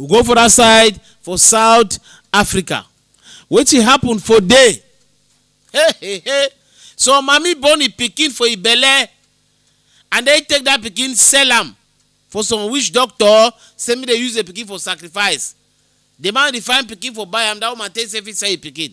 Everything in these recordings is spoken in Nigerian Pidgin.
we go for that side for south africa wetin happen for there hey hey hey so mami born im pikin for im belle and then take that pikin sell am for some witch doctor say make dem use the pikin for sacrifice the man dey find pikin for buy am that woman take say fit sell im pikin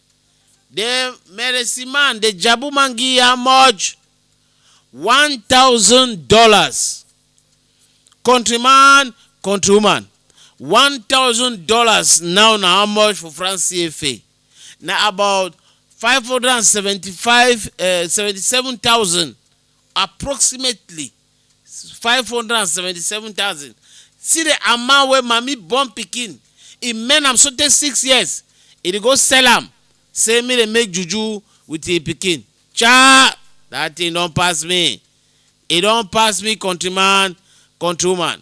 den meresi man dey jabu mangi how much one thousand dollars country man country woman one thousand dollars now na how much for france cfa na about five hundred and seventy-five seventy-seven thousand approximately 577000 see the amount wey mami born pikin e mend am sotey six years e dey go sell am say make dem make juju with him pikin chai that thing don pass me e don pass me country man country woman.